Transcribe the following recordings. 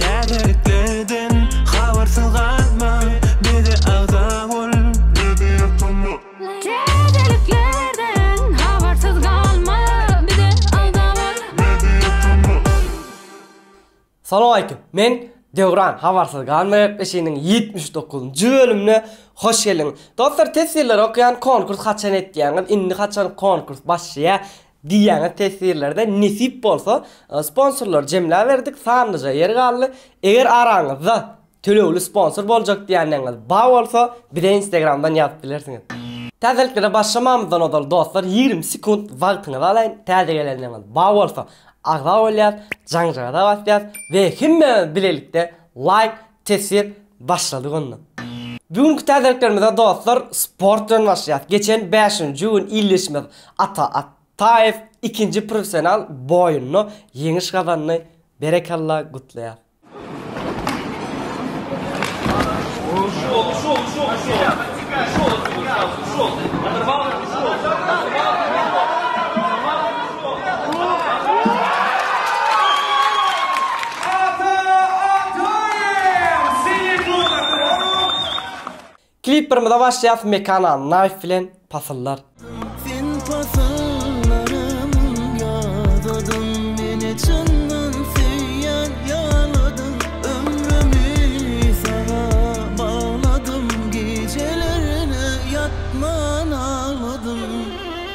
Täzeliklerden habarsyz galma, bize agza bol. Täzeliklerden habarsyz galma, bize agza bol. Salowaleýkim, men Döwran, Habarsyz galma gepleşiginiň ýetmiş dokuzynjy bölümine hoş geldiňiz. Dostlar, test ýyllary okaýan, konkurs haçan etýäňiz, indi haçan konkurs başlaýar, Diýýäňiz teswirlerde nesip bolsa sponsorlary jemläberdik sanlyja ýer galdy eger araňyzda tölegli sponsor boljak diýänleňiz ba bolsa bize instagramdan ýazyp bilersiňiz. Täzeliklere başlamamyzdan ozal dostlar ýigrimi sekunt wagtyňyzy alaýyn täze gelenleňiz ba bolsa agza bolýas jaňjagaza basýas we hemmämiz bilelikde laýk Teswir başladyk onda. Bu günki täzeliklerimize dostlar sport bilen başlaýas. Geçen bäşinji gün ildeşimiz Ata Ataýew ikinji professional boýunda ýeňiş gazandy. Berekella gutlaýas. Klipperimize başlaýas Mekana Knife bilen Pasyllar. Sen pasyllarym ýadadym meni çyndan söýýän ýaladym ömrümi saňa bagladym gijelerine ýatman agladym.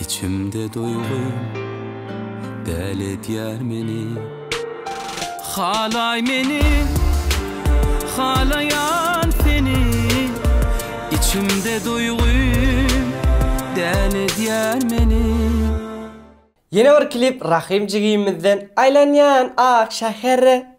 Içimde duýgy däl edýär meni Halaý meni halaýan seni Içimde duýgy däl edýär meni. Ýene bir klip Rahym jigimizden Aýlanýan ak şähere.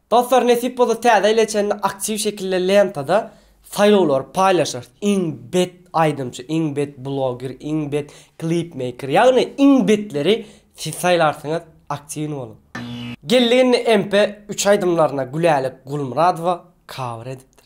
Dostlar nesip bolsa täze ýyla çenli aktiw şekilde lentada saýlawlary paýlaşarys. Iň bet aýdymçy, iň bet bloger, iň bet klip meýker ýagny iň betleri siz saýlarsyňyz aktiwny boluň. Geldi indi MP üç aýdymlaryna Gülälek Gulmyradowa cover edipdir.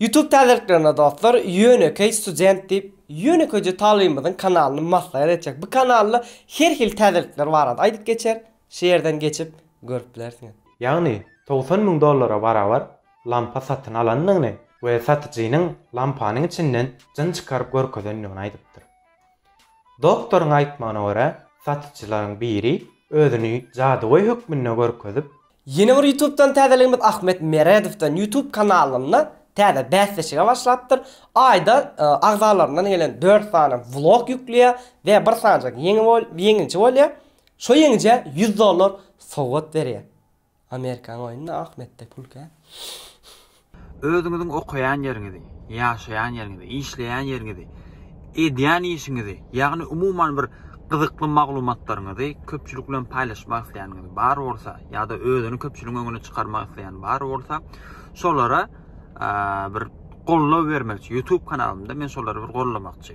Youtube täzeliklerine dostlar ýönekeý student diýip ýönekeýje talybymyzyň kanalyny maslahat etjek bu kanalda her hili täzelikler barada aýdyp geçer şu ýerden geçip görüp bilersiňiz. Ýagny togsan müň dollara barabar lampa satyn alandygyny we satyjynyň lampanyň içinden jyn çykaryp görkezendigini aýdypdyr. Doktoryň aýtmagyna görä, satyjylaryň biri özüni jadygöý hökmünde görkezip, Ýene bir ýutubdan täzeligimiz Ahmet Meredowdan ýutub kanalynda täze bäsleşige başlapdyr. Aýda agzalaryndan gelen dört sany vlog ýükleýär we bir sanjak ýeňiji bolýar. Şo ýeňijä ýüz dollar sowgat berýär. Amerikan oýnuna ak metde pul kän. Özüňiziň okaýan ýeriňizi, ýaşaýan ýeriňizi, işleýän ýeriňizi, edýän işiňizi, ýagny umuman bir gyzykly maglumatlaryňyzy köpçülik bilen paýlaşmak isleýäniňiz bar bolsa ýa-da özüni köpçüligiň öňüne çykarmak isleýän bar bolsa, şolara bir goldaw bermek üçin, YouTube kanalymda men şolary bir goldamakçy.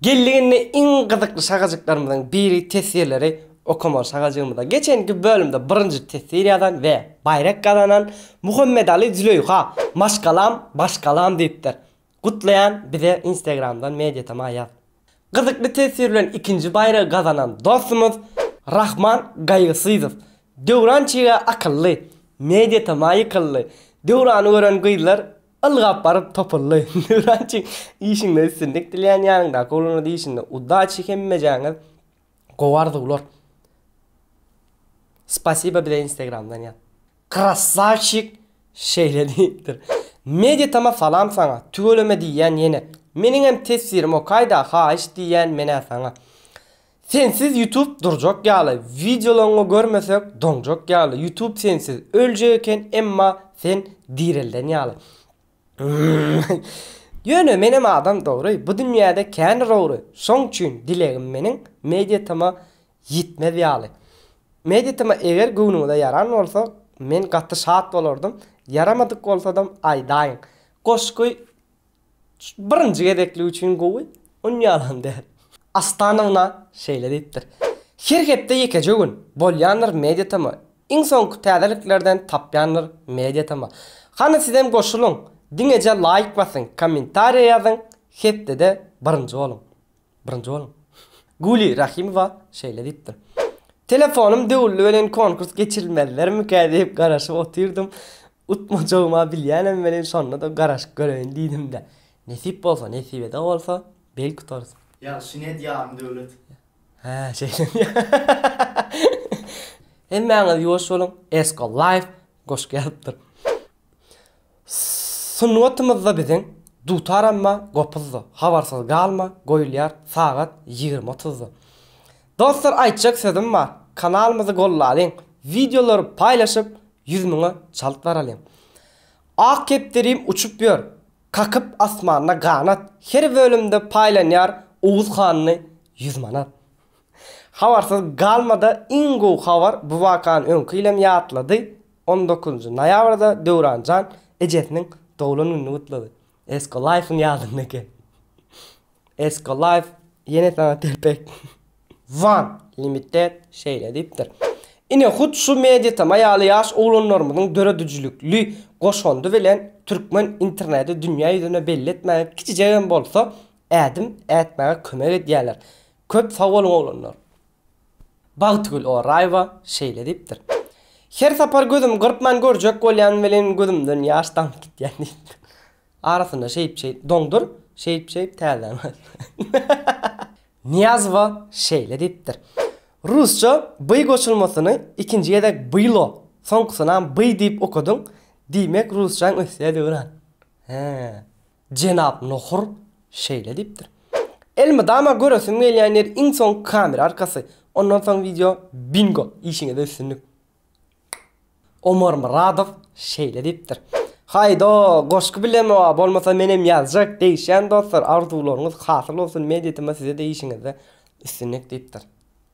Geldiginde iň gyzykly şagajyklarymyzyň biri teswirleri okamaly şagajygymyza geçenki bölümde birinji teswir ýazan we baýrak gazanan Muhammedaly Züleýha maşgalam maşgalam diýipdir. Gutlaýan bize instagramdan mediatoma ýaz. Gyzykly teswir bilen ikinji baýragy gazanan dostumyz Rahman Gaýgysyzow Döwran çyga akylly, mediatoma ýykyldy, Döwrany gören gyzlar Ylgap baryp topuldy. Nuranjy işiňde üstünlik dilýän ýanyňdaky oglana diýişinde udaçi hemmejäňiz gowy arzuwlar. Spasiba bize instagramdan ýaz. Krassavçik şeýle diýipdir. Meditama salam saňa, tüweleme diýýän ýene. Meniňem tefsirim okaýda haýyş diýýän menä saňa. Sensiz ýutub durjak ýaly wideolaňňy görmesek doňjak ýaly ýutub sensiz öljek eken emma sen direlden ýaly Ýöne menem adam dogry bu dünýäde kän rowry şoň üçin dilegim meniň mediatma ýitmez ýaly Mediatma eger göwnüňize ýaran bolsa men gaty şat bolardym ýaramadyk bolsadam aýdaýyň goşgy Birinji gezeklik üçin gowy, on ýalam däl. Astanowna şeýle diýipdir, Her hepde ýekeje gün, bolýandyr mediatema, iň soňky täzeliklerden tapýandyr mediatema. Hany sizem goşulyň, diňeje laýk basyň, kommentariýa ýazyň, hepdede birinji boluň. Birinji boluň. Guli Rahimowa şeýle diýipdir. Telefonym döwüldi welin konkurs geçirilmezlermikä diýip garaşyp otyrdym. Utmajagyma bilýänem welin şonda-da garaşyp göreýin diýdim-de. Nesip bolsa, nesibede bolsa belki utarys. Ýagşy net ýarym döwlet. Hä şeýle mi. Hemmäňiz ýuwaş boluň, Esko Life goşgy ýazypdyr. Sungatymyzda biziň Dutar amma gopuzdy, Habarsyz galma goýulýar sagat ýigrimi otuzda. Dostlar aýtjak sözüm bar, kanalymyzy gollalyň, wideolary paýlaşyp ýüz müňe çalt baralyň. Ak kepderim uçup ýör, kakyp asmanda ganat, her bölümde paýlanýar Oguz hanly ýüz manat. Habarsyz galmada iň gowy habar bu wakany öňki ýylem ýatlady, On dokuzynjy noýabrda Döwran jan ejesiniň doglan gününi gutlady. Esko Life-yň ýadynda eken. Esko Life ýene saňa telpek. Wan Limited şeýle diýipdir. Ine hut şu Mediatm-a ýaly ýaş oglanlarymyzyň döredijilikli goşandy bilen türkmen interneti dünýä ýüzüne belli etmäge kiçijegem bolsa ädim ätmäge kömek edýärler. Köp sag boluň oglanlar. Bagtygül Oraýewa şeýle diýipdir, Her sapar gözümi gyrpman görjek bolýan welin gözümden ýaş damyp gitýär diýipdir. Arasynda şeýip-şeýip doňdur, şeýip-şeýip täzäni aýtdyr. Nyýazowa şeýle diýipdir, Rusça by goşulmasyny ikinji gezek bylo, soňkusynam by diýip okadyň, diýmek rusçaň ösýär döwran. Hä. Jenap Nohur şeýle diýipdir. Elmydama göresim gelýän ýer iň soňky kamera arkasy, ondan soň wideo Bingo! Işiňizde üstünlik. Omar Myradow şeýle diýipdir. Haýdo, goşgy bilemioa bolmasa menem ýazjak, degişýän dostlar, arzuwlaryňyz hasyl bolsun, media tm size-de işiňizde üstünlik diýipdir.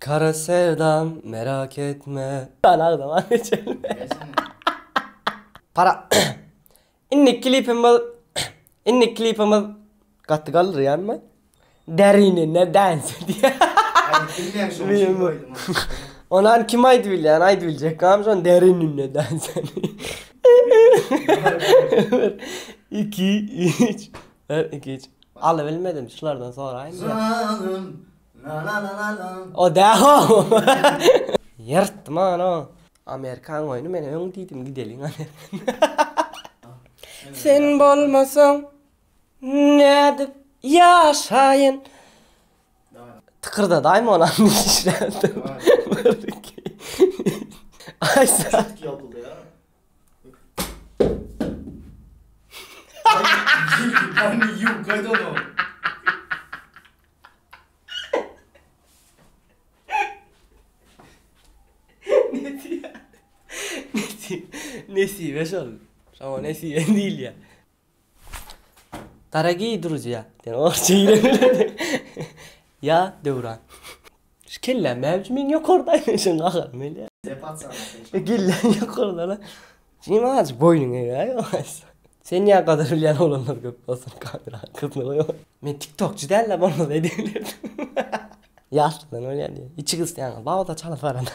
Kara sevdam merak etme. Hany agzama Para Indiki klipimiz Indiki klipimiz Gaty galdyrýanmy? Derinine dance edýär. Ony hany kim aýdyp bilýär? Hany aýdyp biljek kami şony Derinine dance edýär. Iki üç. Bir iki üç. Alybilmedim şulardan soraýyn. Nanananana. O dähow. Ýyrtdym ony. Amerikan goýny men öň diýdim gideliň Amerikan. Sen bolmasaň nädip ýaşaýyn. Tykyrdadaýma ony Aýsa. Nesibe şol. Şoňa nesibe diýilýä. Dorogiý druziýa. Sen orçy ýa Döwran. Şu kelläm näme üçin meň ýokarda aýlanşan gahary mele. Sepat saňa sen şa. Kelläň ýokarda-la. Jim azajyk boýnuňy egä ýogsa. Sen ýa gadyr bilýän oglanlar köp bolsun kamera arkasyna goýup otur. Men tiktokçy dällä bolmasa edebilerdim. Ýaşlydan bolýar diýýä. Içi gysýaňyz bawda çalyp barana.